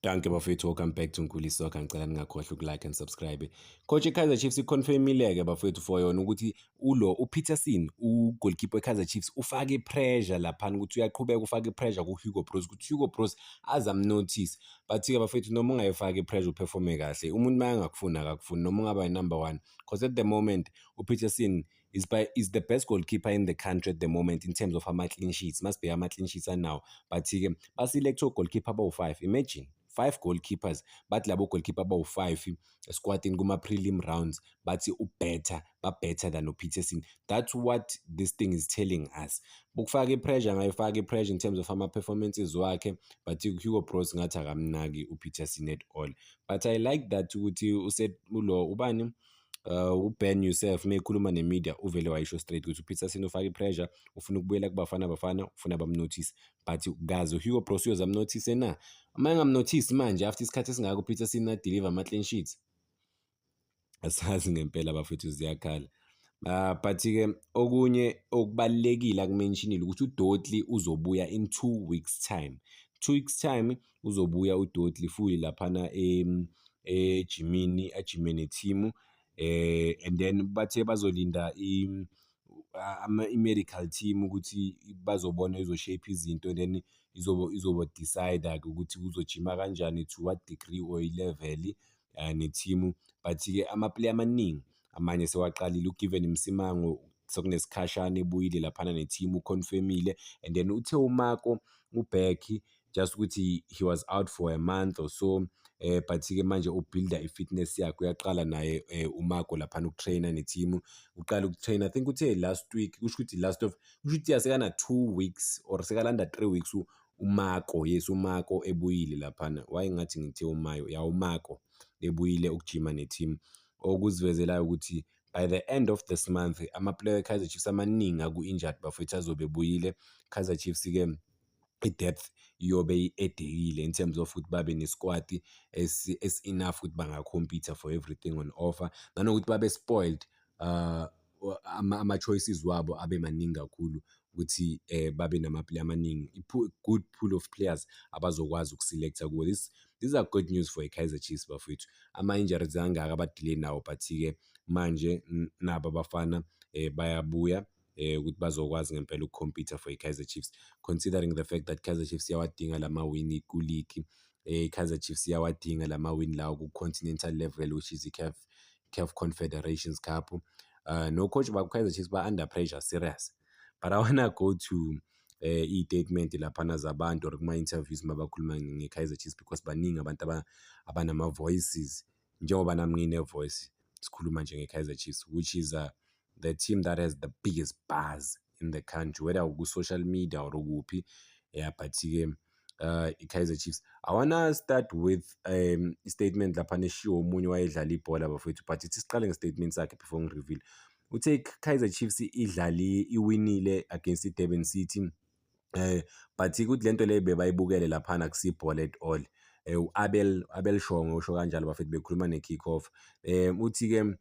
Danke bafethu welcome back to Nkuli Soccer ngicela ningakhohlwa ukulike and subscribe. Coach iKaizer Chiefs iconfirmile ke bafethu for yona ukuthi ulo uPeterson ugoalkeeper iKaizer Chiefs ufake pressure lapha ukuthi uyaqhubeka ufake pressure ku Hugo Broos ukuthi Hugo Broos azam notice. But ke bafethu noma ungayifaki pressure uperforme kahle. Umuntu mayangakufuna akakufuni noma ungaba number 1 because at the moment uPeterson is by is the best goalkeeper in the country at the moment in terms of ama clean sheets must be ama clean sheets anawo but ke baselect goalkeeper abawu-5 imagine five goalkeepers bathi labo goalkeeper abawu-5 esquatini kuma-prelim rounds bathi ubetter babetter than upeterson that's what this thing is telling us ukufaka ipressure angayifaka ipressure in terms of ama-performances wakhe but hugo bros ngathi akamnaki upeterson at all but i like that ukuthi ulo ubani Uh, uben yousef uma ekhuluma nemedia uvele wayisho straight ukuthi upeterson ufaka ipressure ufuna ukubuyela kubafana bafana ufuna bamnothise but kazi uhugo bros uyozamnothise na uma engamnothisi manje after isikhathi esingako upeterson adeliver ama-clean sheets asazi ngempela bafethu ziyakhala Uh, but-ke okunye okubalulekile akumentionile ukuthi udotli uzobuya in two weeks time two weeks time uzobuya udoti futhi laphana ejimini ajime nethimu eh and then bathe bazolinda i-medical team ukuthi bazobona izoshape izinto and then izobo izobo decide-a-ke ukuthi uzojima kanjani to what degree or ilevel eh, nethimu but-ke amaplayer amaningi amanye sewaqalile ugiven msimango sekunesikhashana ebuyile laphana nethimu uconfirmile and then uthe umako ubhekhi just ukuthi he was out for a month or so eh but-ke manje ubuilda i-fitness yakhe uyaqala naye eh, umako laphana ukutraina nethimu uqala ukutraina i think uthe last week kusho ukuthi last of kusho ukuthi yasekana two weeks or sekalanda three weeks uMako yes uMako ebuyile laphana why ngathi ngithe uMayo ya uMako ebuyile ukujima ne-team okuzivezelayo ukuthi by the end of this month amaplayer e-kaizer chiefs amaningi aku-injured bafethu azobe ebuyile kaizer chiefs-ke i-depth iyobe i-edekile in terms of ukuthi babe nesikwati esi-enough ukuthi bangakhompitha for everything on offer nanokuthi babe spoiled uh, ama-choices wabo abe maningi kakhulu ukuthi um babe nama-player amaningi good pool of players abazokwazi ukuselekta kuwo this these are good news for i-kaizer chiefs bafowethu ama-injuries angaka abadile nawo but-ke manje nabo abafana um bayabuya eh ukuthi bazokwazi ngempela ukukhompyutha for i-Kaizer Chiefs considering the fact that Kaizer Chiefs iyawadinga lama win ku league eh Kaizer Chiefs iyawadinga lama win lawo ku continental level which is i-CAF CAF Confederations Cup. Uh, no coach bakukaizer chiefs ba-under pressure serious but i wanna go to um uh, eh, iy'tatimenti laphana zabantu or kuma-interviews uma bakhuluma nge-kaizer chiefs because baningi abantu abanama-voices njengoba nami ngine-voice sikhuluma nje nge-kaizer chiefs which is uh, the team that has the biggest buzz in the country whether uku-social media or ukuphi yeah but-ke uh, i-kaizer chiefs i wanna start with um, statement lapha neshiwo omunye wayedlala ibhola bafowethu but ithi siqale nge-statement sakhe before ngi-reveal uthe i-kaizer chiefs idlali iwinile against i-durban city um but kuthi le nto leyo bebayibukele laphana kusibhola at all um u-abel abel shongo usho kanjalo bafethu bekhuluma ne-kick off um uthi-ke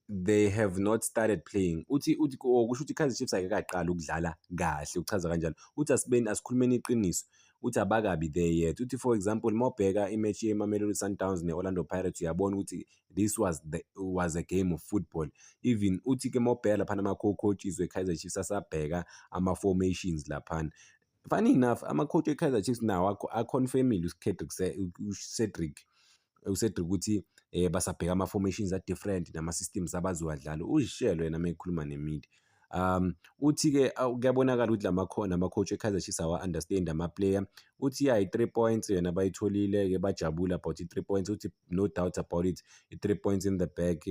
they have not started playing uthi uthi oh, kusho ukuthi iKaizer Chiefs ayike kaqala ukudlala kahle uchaza kanjalo uthi asibeni asikhulumeni iqiniso uthi abakabi there yet uthi for example mawubheka imatch yeMamelodi Sundowns neOrlando Pirates uyabona ukuthi this was the was a game of football even uthi ke mawubheka lapha ama coaches weKaizer Chiefs asabheka ama formations lapha funny enough amakhothi we-kaizer chiefs nawo aconfirmile ucedric ucedric ukuthi um basabheka ama-formations a-different nama-systems abazowadlala uzishelo yena uma ekhuluma nemidi um uthi-ke kuyabonakala ukuthi lamakhona amakhothi e-kaizer chiefs awa-understand amaplayer uthi ya i-three points yona bayitholile-ke bajabule about i-three points uthi no doubt about it i-three points in the back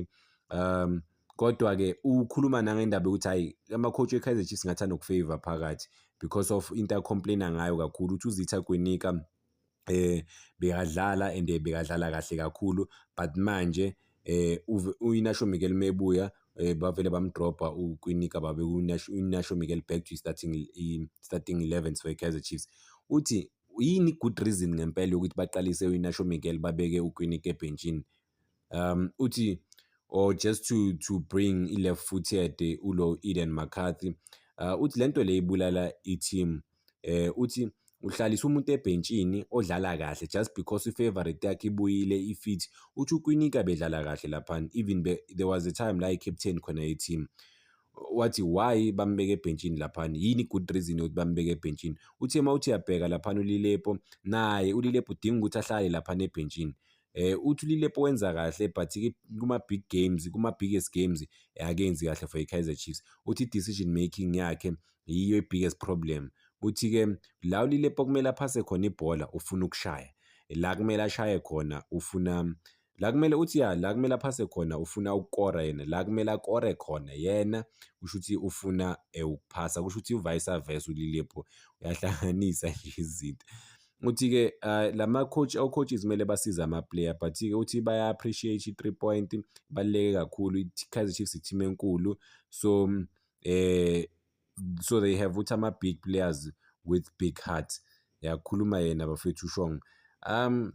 um Kodwa-ke ukhuluma nangendaba yokuthi hhayi ama-coach we-Kaizer Chiefs ngathi anokufavor phakathi because of into acomplaina ngayo kakhulu ukuthi uzitha kwinika um eh, bekadlala and bekadlala kahle kakhulu but manje um uyinasho miguel mebuya um bavele bamdrobha ukwinika babe uyinasho miguel back to starting starting eleven for i-kaizer chiefs uthi yini good reason ngempela yokuthi baqalise uyinasho miguel babeke ukwinika ebhentshini um uthi or just to to bring i-left footed eh, ulo Eden McCarthy uh, uthi lento le ibulala i-team eh uthi uhlalisa umuntu ebhentshini odlala kahle just because i-favorite yakhe ibuyile i-fit uthi ukwinika bedlala kahle laphana even be, there was a time la i-captain khona ye-team wathi why bambeke ebhentshini laphana yini good reason yokuthi bambeke ebhentshini uthe uma uthi uyabheka laphana ulilepo naye ulilepo udinga ukuthi ahlale laphana ebhentshini eh uthi uLilepo wenza kahle but kuma big games kuma biggest games eh, akenzi kahle for iKaizer Chiefs uthi decision making yakhe yiyo ibiggest problem uthi ke la uLilepo kumele aphase khona ibhola ufuna ukushaya la kumele ashaye khona ufuna la kumele uthi ya la kumele aphase khona ufuna ukukora yena la kumele akore khona yena kusho ukuthi ufuna eh, ukuphasa kusho ukuthi uvice versa uLilepo uyahlanganisa nje izinto Uthi-ke uh, la ma-coach o-coaches kumele basize ama-player but-ke uthi baya-appreciate i-three point baluleke kakhulu i-kaizer chiefs i-team enkulu so um eh, so they have ukuthi ama-big players with big heart yakhuluma yena bafethu ushong um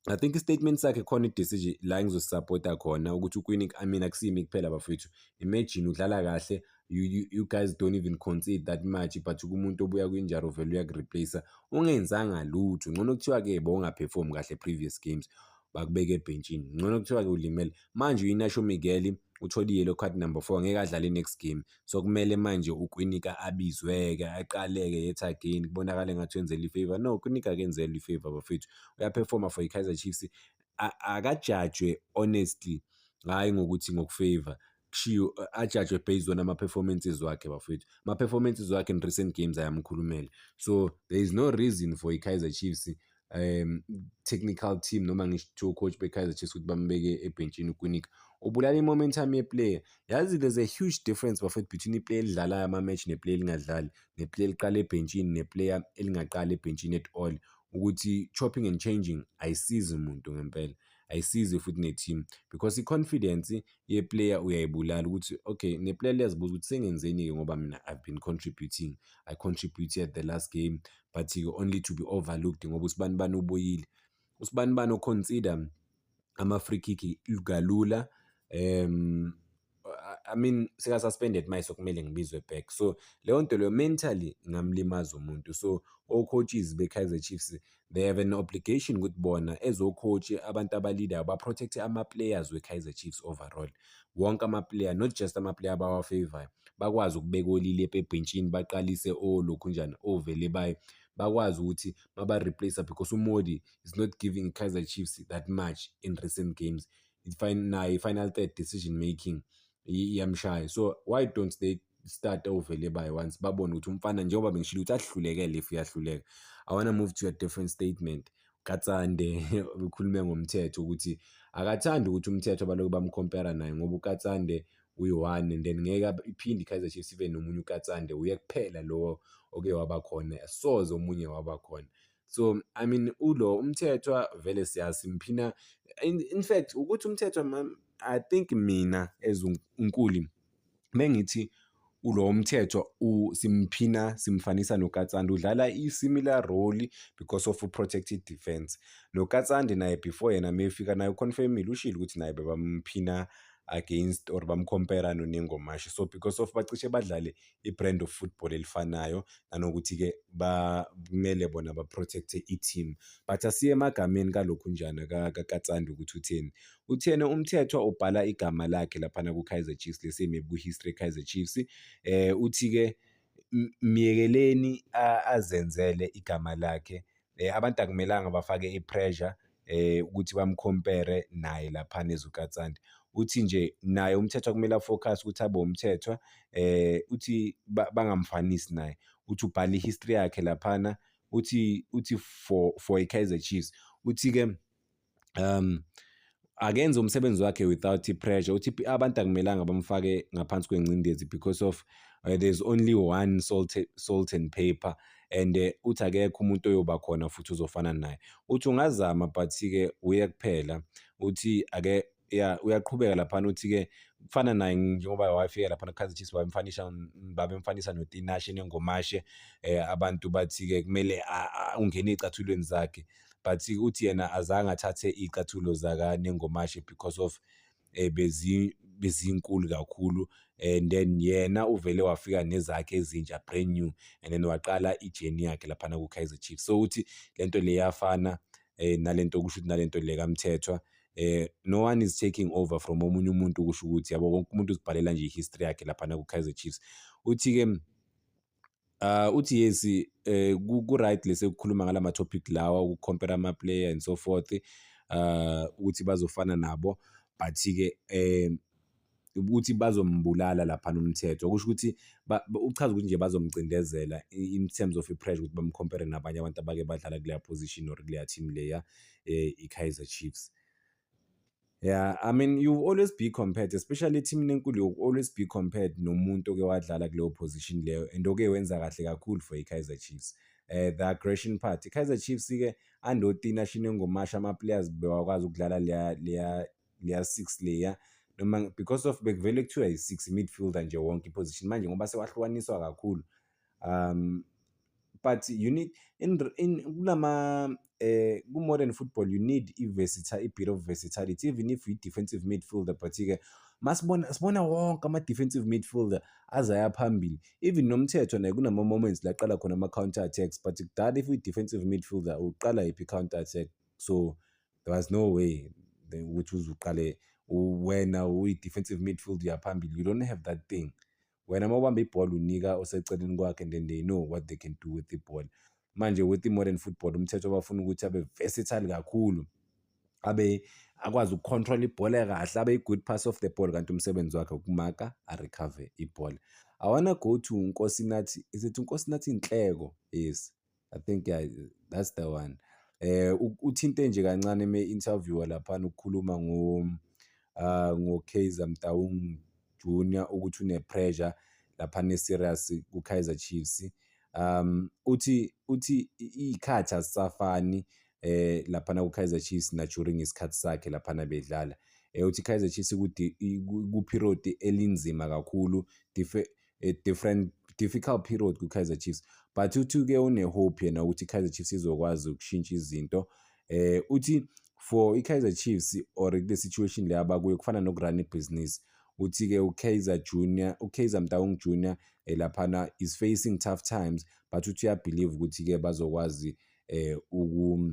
I think istatement sakhe khona idecision la engizosupporta khona ukuthi uQueen I mean akusimi kuphela bafethu imagine udlala kahle you, you, you guys don't even concede that much but kumuntu obuya kwinjaro vele uyakureplace ungenzanga lutho ngcono kuthiwa ke bowungaperform kahle previous games bakubeke ebhentshini ngcono kuthiwa ke ulimele manje uyinasho Miguel uthole yellow card number 4 ngeke adlale next game So kumele manje uKwinika abizwe-ke aqaleke yet again kubonakale ngathi wenzela ifavor. No, uKwinika akenzelwe ifavor bafethu. Uyaperforma for iKaizer Chiefs. Akajajwe honestly hhayi ngokuthi ngokufavor kushiwo ajajwe based on ama-performances wakhe bafethu ama-performances wakhe in recent games ayamkhulumela so there is no reason for i-kaizer chiefs um technical team noma ngisho kuthiwa coach bekaizer chiefs ukuthi bambeke ebhentshini ukwinika ubulala i-momentum yeplayer yazi there's a huge difference bafethu between iplayer elidlalayo ama-match neplayer elingadlali neplayer eliqala ebhentshini neplayer elingaqali ebhentshini at all ukuthi chopping and changing ayisizi umuntu ngempela ayisizi futhi ne-team because i-confidence yeplayer uyayibulala ukuthi okay neplayer liyazibuza ukuthi sengenzeni-ke ngoba mina i've been contributing i contributed the last game but you only to be overlooked ngoba usibanibani ubuyile usibanibani oconsider ama-free kick kalula um I mean seka suspended manje sokumele ngibizwe back so leyo nto leyo mentally ngamlimaza umuntu so o-coaches be-Kaizer Chiefs they have an obligation ukuthi bona as o-coach abantu abaleader ba-protect ama-players we-Kaizer Chiefs overall wonke amaplayer not just amaplayer abawafavorayo bakwazi ukubeka olile ebhentshini baqalise olokhunjana ovele baye bakwazi ukuthi baba-replace because umodi is not giving kaizer chiefs that much in recent games naye i-final third decision making iyamshaya so why don't they start over le by once babone ukuthi umfana njengoba bengishilo ukuthi ahlulekele if uyahluleka i want to move to a different statement katsande ukhulume ngomthetho ukuthi akathandi ukuthi umthetho abaloku bamcompara naye ngoba ukatsande uyi-one and then ngeke iphinde i-kaizer chiefs ibe nomunye ukatsande uye kuphela lowo oke waba khona soze omunye waba khona so i mean ulo umthethwa vele siyazi mphina in, in fact ukuthi umthethwa i think mina as unkuli mengithi ulo mthetho simphina simfanisa nokatsande udlala i-similar role because of protected defense nokatsande naye before yena mefika naye uconfirmile ushile ukuthi naye bebamphina against or bamcompera nonengomashi so because of bacishe badlale i-brand of football elifanayo nanokuthi-ke kumele bona baprotecte i-team but asiye emagameni kalokhu njani kakatsande ukuthi utheni Uthena uMthethwa ubhala igama lakhe laphana ku-Kaizer Chiefs lesi maybe ku-history Kaizer Chiefs eh uthi-ke myekeleni azenzele igama lakhe eh abantu akumelanga bafake i-pressure eh ukuthi bamcompare naye lapha nezukatsande uthi nje naye umthethwa kumele afocus ukuthi abe umthethwa eh uthi bangamfanisi naye uthi ubhala i-history yakhe laphana uthi uthi for for i-Kaizer Chiefs uthi-ke um akenze umsebenzi wakhe without i-pressure uthi abantu akumelanga bamfake ngaphansi kwengcindezi because of uh, there's only one salt, salt and paper and uh, uthi akekho umuntu oyoba khona futhi uzofana naye uthi ungazama but-ke uye kuphela uthi ake ya uyaqhubeka laphana uthi-ke kufana naye njengoba wafika laphana khazi chiefs babemfanisa babemfanisa notinashe nengomashe um eh, abantu bathi-ke kumele ungene ey'cathulweni zakhe but uthi yena azange athathe iy'cathulo zakanengomashe because of um bezi bezinkulu kakhulu and then yena uvele wafika nezakhe ezintsha brand new and then waqala ijeni yakhe laphana ku-kaizer chiefs so uthi le nto le yafana eh nalento kusho ukuthi nalento le kaMthethwa eh no one is taking over from omunye umuntu kusho ukuthi yabo wonke umuntu uzibhalela nje history yakhe lapha na ku Kaizer Chiefs uthi ke Uh, uthi yes eh ku right lesekukhuluma ngalama topic lawa uku compare ama player and so forth uh ukuthi bazofana nabo but ke eh ukuthi bazombulala lapha nomthetho kusho ukuthi uchaza ukuthi nje bazomcindezela in terms of i-pressure ukuthi bamcompare nabanye abantu abake badlala kuleya position or kuleya team leya eh, i-kaizer chiefs Yeah, I mean you always be compared especially ethimini enkulu you always be compared nomuntu oke wadlala kuleyo position leyo and oke wenza kahle kakhulu for i-Kaizer Chiefs. Eh the aggression part. I-Kaizer Chiefs ke andoti national ngomasha ama players bewakwazi ukudlala leya leya leya six leya noma because of bekuvele kuthiwa yi-six midfielder nje wonke iposition manje ngoba sewahlukaniswa kakhulu um but you need in, in kulama eh ku-modern football you need i-versatile i-bit of versatility even if yi-defensive midfielder but-ke masibona sibona wonke ama-defensive midfielder azaya phambili even nomthetho naye kunama-moments laqala khona ama-counter attacks but kudala if uyi-defensive midfielder uqala yiphi i-counter attack so there was no way ukuthi uzuqale wena uyi-defensive midfield uyaphambili you don't have that thing wena uma ubamba ibhola unika oseceleni kwakhe and then they know what they can do with ibhola manje with i-modern football umthetho bafuna ukuthi abe versatile kakhulu abe akwazi ukucontrol ibhola kahle abe i-good pass of the ball kanti umsebenzi wakhe ukumaka arecover ibhola awana go to nkosinathi is it unkosinathi inhleko yes I think yeah, that's the one. Eh uthinte nje kancane eme interviewer lapha ukukhuluma ngo uh, ngo Kaizer Mtaung Junior ukuthi une pressure lapha ne serious ku Kaizer Chiefs. Um uthi uthi ikhathi asafani eh lapha na ku Kaizer Chiefs na during isikhathi sakhe lapha na bedlala. Eh uthi Kaizer Chiefs ku period elinzima kakhulu a different difficult period kwi-kaizer chiefs but uthi uke unehope yena ukuthi i-kaizer chiefs izokwazi ukushintsha izinto eh uthi for i-kaizer chiefs or kule situation le abakuyo kufana nokurun ibhizinisi uthi-ke ukaizer junior ukaizer mtawung junior eh, laphana is facing tough times but uthi uyabhilive ukuthi-ke bazokwazi eh, uku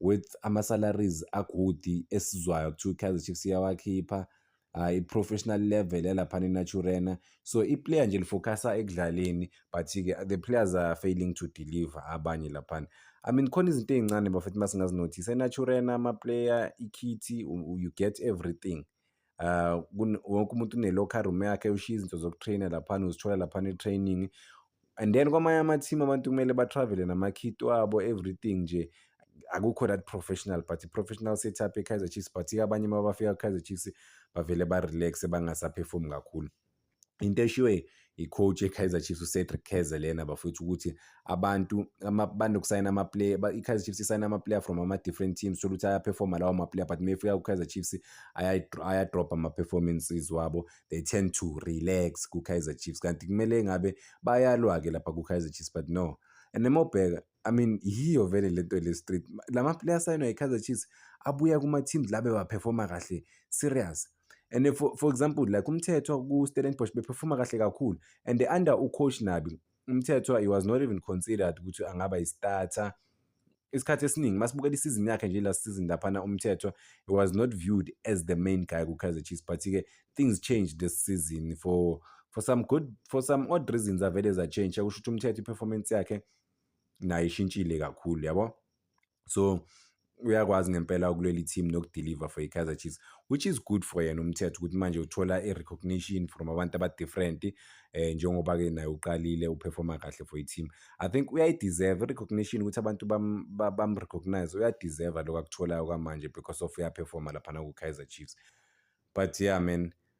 with ama-salaries agudi esizwayo kuthiwa i-kaizer chiefs iyawakhipha uh, i-professional level yalaphana enaturena so i-player nje lifocusa ekudlaleni but-ke the players are failing to deliver abanye laphana i mean khona izinto ey'ncane bafethu uma singazinothisa enaturena ama-player ikhithi you get everything Uh, wonke umuntu une-locker room yakhe ushiya izinto zokutraina laphana uzithola laphana e-training and then kwamanye ama-team abantu kumele batravele nama-kit wabo everything nje akukho that professional but i-professional setup e-kaizer chiefs but abanye uma bafika ku-kaizer chiefs bavele ba-relaxe bangasaphefumi kakhulu into eshiwe i-coach e-Kaizer Chiefs uCedric Keze lena bafowethu ukuthi abantu banokusayina ama-player i-Kaizer Chiefs isayina ama-player from ama-different teams thola ukuthi ayaphefoma lawo ma-player but mefika ku-Kaizer Chiefs ayadropha ama-performances wabo they tend to relax ku-Kaizer Chiefs kanti kumele ngabe bayalwa-ke lapha ku-Kaizer Chiefs but no and nemobheka I mean yiyo vele le nto le street la ma-player asayinwa yi-Kaizer Chiefs abuya kuma-teams la bewaphefoma kahle serious and if, for, for example like umthethwa ku-stellenbosch bephefuma kahle kakhulu and under ucoach nabi umthethwa he was not even considered ukuthi angaba yistarter isikhathi esiningi masibukela isizini yakhe nje last season laphana umthethwa he was not viewed as the main guy ku-kaizer chiefs but-ke things changed this season for for some good for some odd reasons avele zachange kusho ukuthi umthetho i-performance yakhe nayo ishintshile kakhulu yabo so uyakwazi ngempela ukulwela i-team nokudeliver for i-kaizer chiefs which is good for yena umthetho ukuthi manje uthola i-recognition from abantu abadifferent um eh, njengoba-ke naye uqalile uperforma kahle for i-team i think uyayideserve i-recognition ukuthi abantu bamrecognize bam uyadeserve lokho akutholayo kwamanje because of uyaperforma laphana ku-kaizer chiefs but yeah man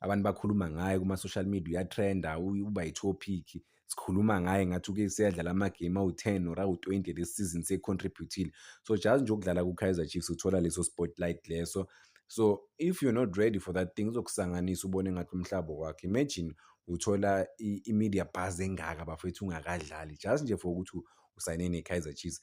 abantu bakhuluma ngaye kuma-social media uyatrenda uba yi-topic sikhuluma ngaye ngathi uke seyadlala amagame awu-ten or awu-twenty lesi season seyi-contributile so just nje ukudlala ku-kaizer chiefs uthola leso spotlight leso so if you're not ready for that thing uzokusanganisa ubone ngathi umhlaba wakhe imagine uthola i-media buzz engaka bafethu ungakadlali just nje for ukuthi usayine ne-Kaizer Chiefs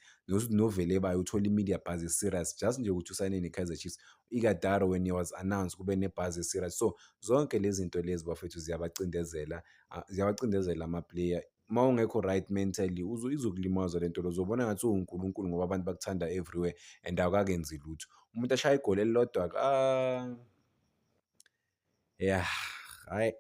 novele bayo uthola i-media buzz e-serious just nje ukuthi usayine ne-Kaizer Chiefs ikadaro when he was announced kube ne-buzz e-serious so zonke lezi zinto lezi bafethu ziyabacindezela ah, ziyabacindezela ama-player uma ungekho right mentally izokulimaza le nto lo uzobona ngathi uwunkulunkulu ngoba abantu bakuthanda everywhere and awukakenzi lutho umuntu ashaya igoli elilodwa ah, ya hhayi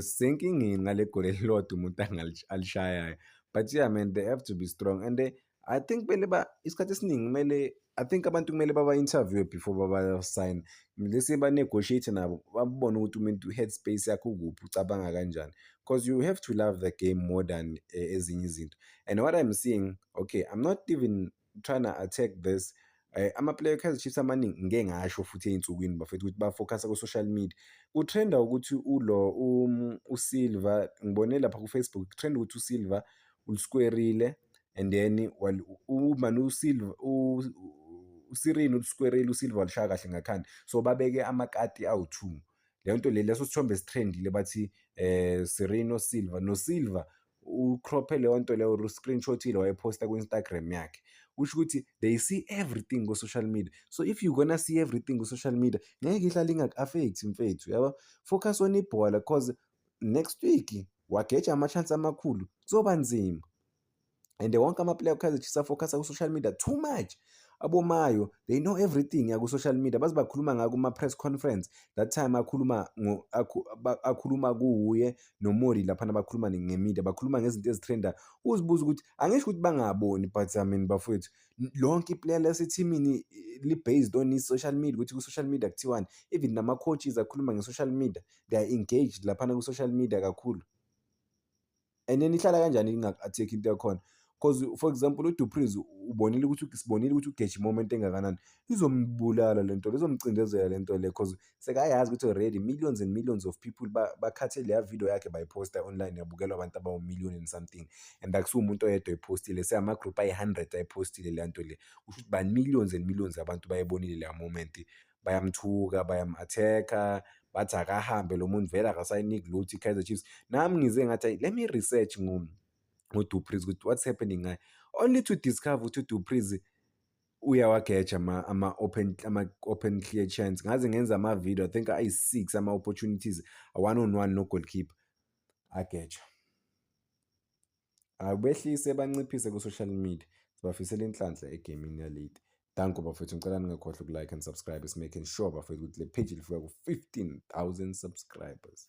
senkingeni ngale goli elilodwa umuntu alishayayo but yeah man they have to be strong and they, i think kumele ba isikhathi esiningi kumele i think abantu kumele baba-interviewe before babasayine lesi ba-negotiate nabo babone ukuthi umuntu headspace yakhe ukuphi ucabanga kanjani because you have to love the game more than uh, ezinye izinto and what i'm seeing okay i'm not even trying to attack this eh, amaplayer eKaizer Chiefs amaningi ngike ngasho futhi ey'nsukwini bafethu ukuthi bafocusa ku-social media kutrenda ukuthi ulo um, usilver ngibone lapha kufacebook kutrenda ukuthi usilver uliskwerile and then umani usilver usirini uliskwerile usilver walishaya kahle ngakhanda so babeke amakati awu-two leyo nto le leso sithombe esithrendile bathi eh Sereno Silva no Silva ucrophe leyo nto leyo uscreenshotile wayephosta ku-instagram yakhe kusho ukuthi they see everything ku-social media so if you gonna see everything ku-social media ngeke ihlale ingaku-affekthi mfethu yabo focus on ibhola cause next week wageja ama-chance amakhulu kuzoba nzima and wonke amaplayer okaizer chiefs afocus ku-social media too much abomayo they know everything yaku-social media baze bakhuluma ngayo kuma-press conference that time akhuluma akhuluma kuwuye nomori laphana bakhuluma ngemedia bakhuluma ngezinto ezithrenda uzibuza ukuthi angisho ukuthi bangaboni but i mean bafowethu lonke iplayer lasethimini li-based on i-social media ukuthi ku-social media kuthiwani even nama-coaches akhuluma nge-social media they are engaged laphana ku-social media kakhulu and then ihlala kanjani inga-attack into yakhona because for example udupris ubonile ukuthi sibonile ukuthi ugeje imoment engakanani izombulala le nto lizomcindezela le nto le because sekayazi ukuthi already millions and millions of people bakhathe leya video yakhe bayiposta online yabukelwa abantu abawumillion and something and akusiwo umuntu oyedwa ephostile seyama-group ayi-hundred ayipostile leya nto le kusho ukuthi ba-millions and millions abantu bayibonile leya moment bayamthuka bayam-attack-a bathi akahambe lo muntu vele akasayiniki lutho i-kaizer chiefs nami ngize ngathi let me research ngodupriz ukuthi what's happening ngaye only to discover ukuthi udupriz uyawageja ama-open ama-open clear chance ngaze ngenza ama-video i think ayi-six ama-opportunities one on one no-goalkeeper ageja Hayi behlise banciphise ku-social media. Sibafisela inhlanhla egamini yalate. Danko bafethu ngicela ningakhohlwa uku-like and subscribe simaking sure bafethu ukuthi le page lifika ku-15,000 subscribers.